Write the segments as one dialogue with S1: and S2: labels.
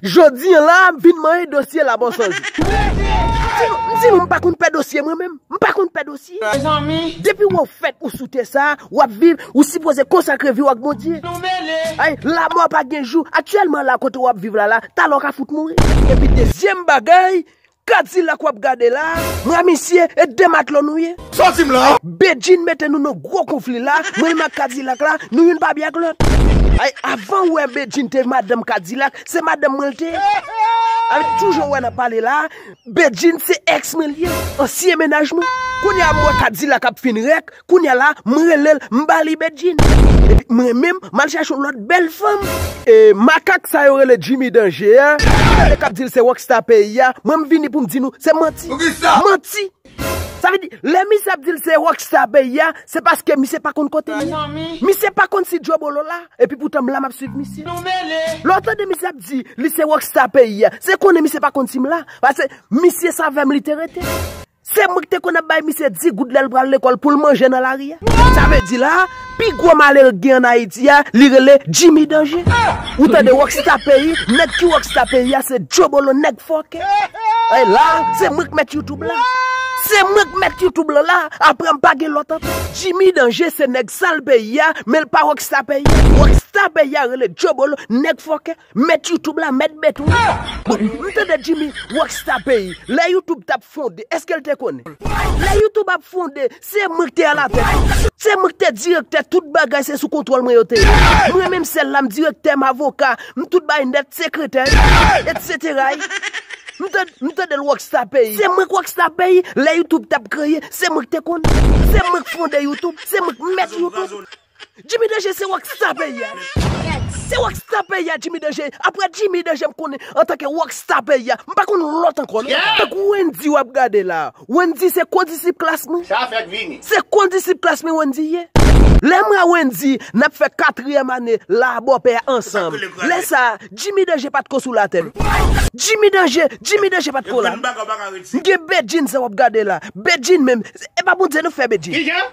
S1: Jodi an la a m vin manyen dosye la bon sans ou. M di nou m pa konn pè dosye mwen menm. M pa konn pè dosye. Depi wè w fèt ou sou tè sa a, w ap viv, ou sipoze konsakre vi w ak Bondye. Ay, lamò pa gen jou. Aktyèlman la a kote w ap viv la la, talè w ka fout mouri. Epi dezyèm bagay, Kadilak wap gade la. Mwen misye e de matlo nou ye. Soti m la.
S2: Bedjine mete nou nan
S1: gwo konfli la, mwen menm ak kadilak la, nou youn pa byen ak lòt. Ay avanw wè Bedjine te madanm kadilak, se madanm mwen l te. Avek tout jan w wè nap pale la, Bedjine se ex mwen l ye, ansyen menaj mwen. Kounya m wè kadilak ap fin rèk, Kounya la m rele l m ba li Bedjine. Epi mwen menm m al chache yon lòt bèl fanm. E makak sa yo rele Jimmy Danje a, gade kap di l se Rockstar peyi a, mwen m vini pou m di nou se manti. Manti! Sa vle di, lè misye ap di l se Rockstar peyi a, se paske misye pa konn kote l ye. Misye pa konn si Djobolo la, epi poutan m la m ap swiv misye. Lè w tande misye ap di li se Rockstar peyi a, se konnen misye pa konn si m la. Pase misye sa avè m li te rete. Se mwen ki te konn ap bay misye 10 goud lè l pral lekòl pou l manje nan lari a. Sa vle di la a, pi gwo malere k gen ann Ayiti a, li rele Jimmy Danje. Ou tande rockstar peyi, nèg ki rockstar peyi a se Jobolo nèg fòkè. Ey la a, se mwen k mèt YouTube la. Se mwen k mèt YouTube lan la a, aprè m pa gen lòt ankò. Jimmy Danje se nèg sal peyi a, men l pa rockstar peyi a. Rockstar peyi a rele Jobolo nèg fòkè. Mèt YouTube la mèt bèt wi. Bon, m tande Jimmy Rockstar peyi, lè YouTube tap fonde, eske l te konnen? Lè YouTube ap fonde, se mwen k te alatèt li. Se mwen k te direktè, tout bagay se sou kontwòl mwen yo te ye. Mwen menm sèl la m direktè, m avoka, m tout bagay nèt, sekretè y, etsetera y. M tande, m tande l Rockstar peyi. Se mwen k Rockstar peyi, lè YouTube tap kreye, se mwen k te konnen. Se mwen k fonde YouTube, se mwen k mèt YouTube. Jimmy danje se rock star peyi a. Yes. Se rock star peyi a Jimmy danje. Aprè Jimmy danje m konnen antanke rock star peyi a. M pa konn lòt ankò non. Yeah. Tankou Wendy wap gade la. Wendy se kondisip klas mwen. Sa fèk vini. Se
S2: kondisip klas
S1: mwen Wendy ye. Lè mwen a Wendy nap fè katriyèm ane la a bòpè a ansanm. Lè sa a Jimmy danje pat ko sou latè non. Jimmy danje, Jimmy danje pat ko la non. M gen Bedjine sa wap gade la. Bedjine menm. E pa Bondye nou k fè Bedjine. Kijan?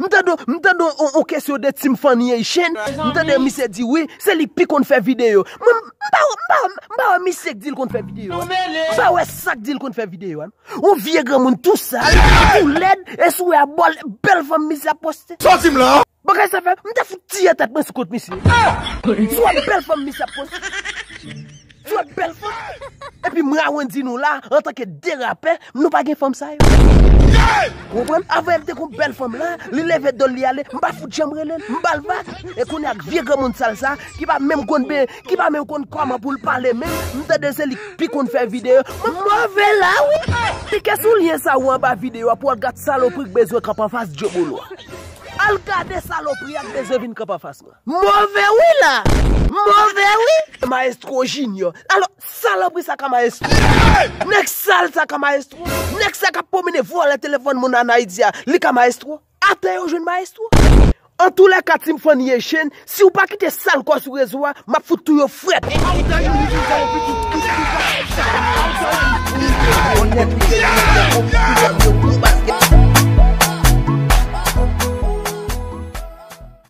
S1: M tande m tande yon kesyon de Team Fannie et Chen, m tande misye di wi, se li k pi konn fè videyo. Mwen m pa wè m pa wè m pa wè misye k di l konn fè videyo an. M pa wè sa k di l konn fè videyo an. Yon vye granmoun tou sal, tou lèd e sou a bòl bèl fanm misye ap poste. Sòti m la! Bagay
S2: sa fè m ta
S1: fout tiye tèt mwen sou kont misye. Sou a bèl fanm misye ap poste. Djòl bèl fanm. Epi mwen a wen di nou la antanke 2 rapè nou pa gen fanm sa yo. Ou konprann? Avan el te kon bèl fanm la, li leve dol li ale, m pa fout janm rele l, m ba l vag. E kounye ak vye granmoun sal sa ki pa menm konn be, ki pa menm konn kòman pou l pale menm, m tande se li k pi konn fè videyo. M move la wi. Klike sou lyen sa ou anba videyo a pou al gad salopri k bezwen kanpe anfas Djebolo a. Al gade salopri a k bezwen vin kanpe anfas mwen. M move wi la! M move wi! Maestro Junior. Alo, salopri sa ka maestro. Nèg sal sa ka maestro. Nèg sa kap pwomene vòlè telefòn moun an Ayiti a, li ka maestro. Atè yo jwenn maestro. Antoulèka Team Fannie Echene, si ou pa kite sal kò sou rezo a, map fout tou yo frèt.